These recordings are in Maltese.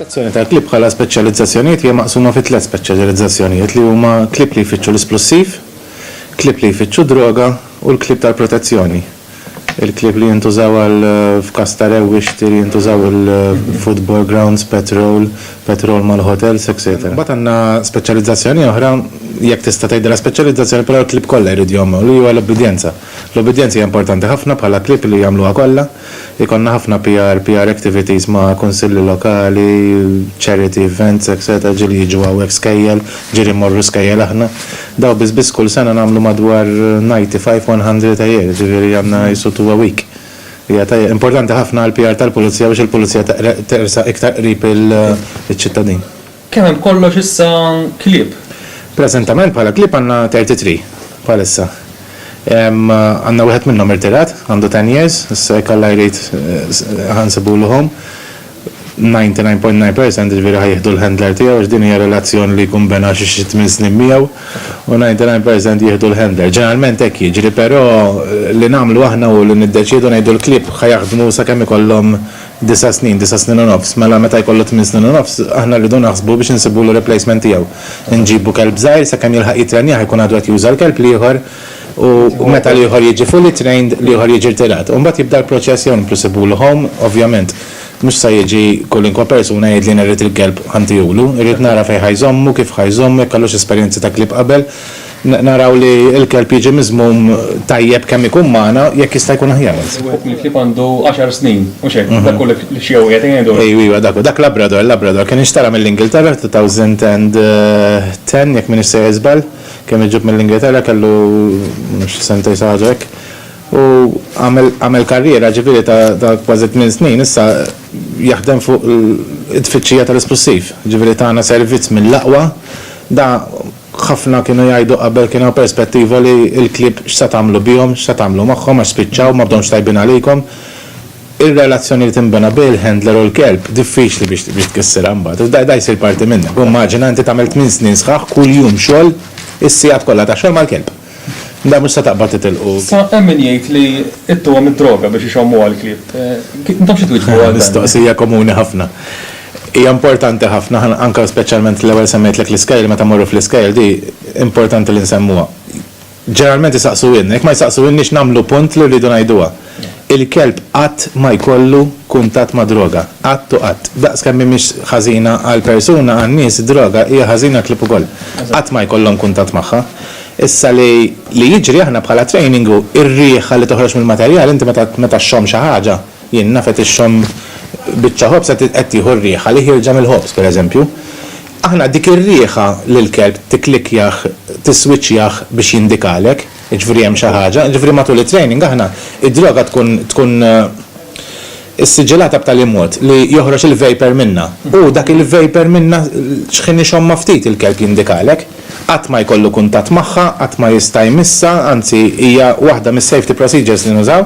Sezzjoni tal-klieb bħala speċjalizzazzjonijiet hija maqsuma fi tliet speċjalizzazzjonijiet li huma klieb li jfittxu l-isplussiv, klieb li jfittxu d-droga u l-klieb tal-protezzjoni. Il-klieb li jintużaw għal f'każ ta' rewwixti li jintużaw il-football grounds, petrol, petrol mal-hotels, etc. Mbagħad għandna speċjalizzazzjoni oħra, jekk tista' tgħidilha speċjalizzazzjoni, però l-klieb kollha jridu jgħommhom, li huwa l-ubbidjenza. L-ubbidjenza hija importanti ħafna bħala klieb li jagħmluha kollha. Ikollna ħafna PR, PR activities ma' kunsilli lokali, charity events etc. Ġieli jiġu hawnhekk skejjel, ġieli mmorru skejjel aħna. Dawn biss biss kull sena nagħmlu madwar ninety five, one hundred a year, ġifieri għandna qisu two a week. Hija tajjeb, importanti ħafna għall-PR tal-Pulizija biex il-Pulizija tersaq iktar qrib iċ-ċittadin. Kemm hemm b'kollox issa klieb? Preżentament bħala klieb għandna thirty three bħalissa. Għandna wieħed minnhom irtirat, għandu ten years, issa jekk Alla jrid ħa nsibulu home. Ninety nine point nine percent jiġifieri ħa jieħdu l-handler tiegħu għax din hija relazzjoni li jkun bena xi xi tmien snin miegħu u ninety nine percent jieħdu l-handler. Ġeneralment hekk jiġri però li nagħmlu aħna hu li niddeċiedu ngħidu l-klieb ħa jaħdmu sakemm ikollhom Disa' snin, disa' snin u nofs, mela meta jkollu tmien snin u nofs, aħna rridu naħsbu biex insibulu replacement tiegħu. Inġibu kelb żgħir, sakemm jilħaq jittrenjah ikun għadu qed juża l-kelb l-ieħor u meta l-ieħor jiġi fully trained, l-ieħor jiġi rtirat. U mbagħad jibda l-proċess jew nibqgħu nsibulu home, ovvjament mhux se jiġi kolinkwa persuna jgħidli jien irrid il-kelb ħa ntihulu. Irrid nara fejn ħa jżommu, kif ħa jżommu, jekk kellux esperjenzi ta' klieb qabel, Naraw li l-kelb jiġi miżmum tajjeb kemm ikun magħna, jekk jista' jkun aħjar anzi. Wieħed mill-klieb għandu għaxar snin, mhux hekk? Dak hu l-Chihuahua qed ngħidu? Ejw, iva, dak hu. Dak Labrador, Labrador. Kien inxtara mill-Ingilterra f'two thousand and ten, jekk m'iniex sejjer żball. Kien miġjub mill-Ingilterra, kellu, ma nafx, sentejn xi ħaġa hekk. U għamel, għamel karriera, ġifieri, ta', ta' kważi tmien snin issa jaħdem fuq it-tfittxija tal-isplussiv. Ġifieri tana servizz mill-aqwa. Da, Ħafna kienu jgħidu qabel kien hawn perspettiva li l-klieb x'se tagħmlu bihom, x'se tagħmlu magħhom għax spiċċaw, ma bdewmx tajbin għalikom. Ir-relazzjoni li tinbena bil-handler u l-kelb diffiċli biex biex tkissirha mbagħad. Da da jsir parti minnek. U immaġina inti tagħmel tmien snin sħaħ kuljum xogħol is-sigħat kollha ta' xogħol mal-kelb. Le, mhux se taqbad titilqu. Sa hemm min jgħid li ittuhom id-droga biex ixommu għall-klieb. Intom xi twieġbu għal dan? Mistoqsija komuni ħafna. Hija importanti ħafna, anke u speċjalment l-ewwel semmejtlek l-iskejjel, meta mmorru fl-iskejjel di importanti li nsemmuha. Ġeneralment isaqsuhielna, jekk ma jsaqsuhielniex nagħmlu punt li rridu ngħiduha. Il-kelb qatt ma jkollu kuntatt ma' droga. Qatt u qatt. Daqs kemm hi mhix ħażina għall-persuna, għan-nies id-droga hija ħażina għall-klieb ukoll. Qatt ma jkollhom kuntatt magħha. Issa li li jiġri aħna bħala training hu r-riħa li toħroġ mill-materjal, inti meta meta xxomm xi ħaġa, jien naf qed ixxomm biċċa ħobż qed qed tieħu r-riħa li ħierġa mill-ħobż pereżempju. Aħna dik ir-riħa lill-kelb tikklikkjah, tiswiċċjah biex jindikalek. Jiġifieri hemm xi ħaġa. Jiġifieri matul it-training aħna, id-droga tkun tkun issiġilata b'tali mod li joħroġ il-vapor minnha. U dak il-vapor minnha xħin ixommha ftit il-kelb jindikalek. Qatt ma jkollu kuntatt magħha, qatt ma jista' jmissha, anzi hija waħda mis-safety procedures li nużaw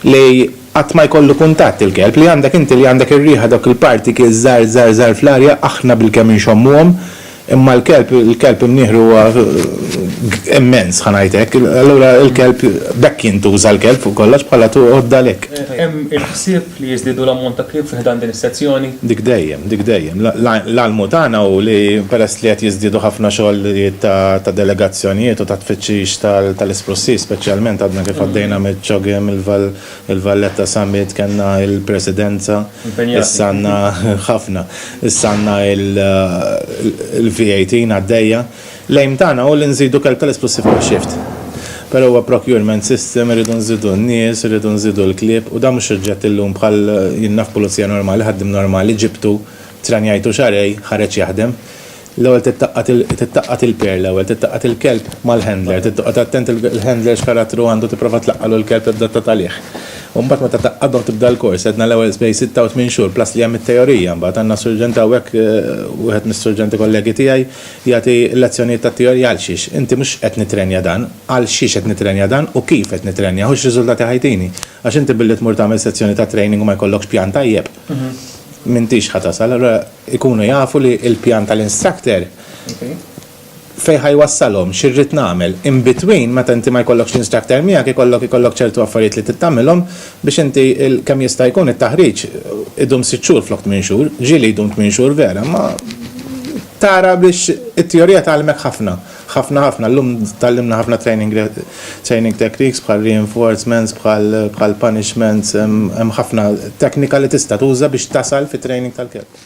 li qatt ma jkollu kuntatt il-kelb. Li għandek inti li għandek ir-riħa dawk il-particles żgħar żgħar żgħar fl-arja aħna bilkemm inxommuhom, Imma l-kelb, il-kelb imnieħru huwa immens, ħa ngħid hekk. Allura l-kelb, b'hekk jintuża l-kelb fuq kollox bħala għodda lek. Hemm il-ħsieb li jiżdiedu l-ammont ta' klieb fi ħdan din is-sezzjoni? Dik dejjem, dik dejjem. L-almu tagħna hu li peress li qed jiżdiedu ħafna xogħlijiet ta' delegazzjonijiet u ta' tfittxix tal-isprussiż speċjalment, għadna kif għaddejna miċ-ċogiem, il-val, Il-Valletta Summit kellna il-presidenza. Impenjati. Issa għandna ħafna. Issa għandna il-V18 għaddejja. L-aim tagħna hu li nżidu kelb tal-esplosiv kull shift. Però huwa procurement system, irridu nżidu n-nies, irridu nżidu l-klieb u dan mhux suġġett illum bħal jien naf pulizija normali, ħaddiem normali, ġibtu, tranjajtu xarej, ħareġ jaħdem. L-ewwel titqattgħat il-pair l-ewwel, titqattgħat il-kelb mal-handler, titqgħod attent il-handler x'karattru għandu tipprova tlaqqagħlu l-kelb li tibda tagħtalih. U mbagħad meta taqgħadhom tibda l-kors, għedna l-ewwel bejn sitta u tmien xhur, plus li hemm it-teorija mbagħad, għandna surġent hawnhekk, wieħed mis-surġenti kollegi tiegħi jagħti l-lezzjonijiet tat-teorija għalxiex, inti mhux qed nittrenja dan, għalxiex qed nittrenja dan u kif qed nittrenjah u x'riżultati ħa jtini. Għax inti billi tmur tagħmel sezzjoni ta' training u ma jkollokx pjan tajjeb, m'intix ħa tasal. Allura jkunu jafu li l-pjan tal-instructor fejn ħa jwassalhom, xi rrid nagħmel. In between, meta inti ma jkollokx l-instructor miegħek, ikollok ikollok ċertu affarijiet li trid tagħmilhom biex inti kemm jista' jkun it-taħriġ idum sitt xhur flok tmien xhur. Ġieli jdum tmien xhur vera, imma tara biex it-teorija tgħallimek ħafna. Ħafna ħafna, llum tgħallimna ħafna training training techniques bħal reinforcements, bħal bħal punishments, hemm ħafna teknika li tista' tuża biex tasal fit-training tal-kelb.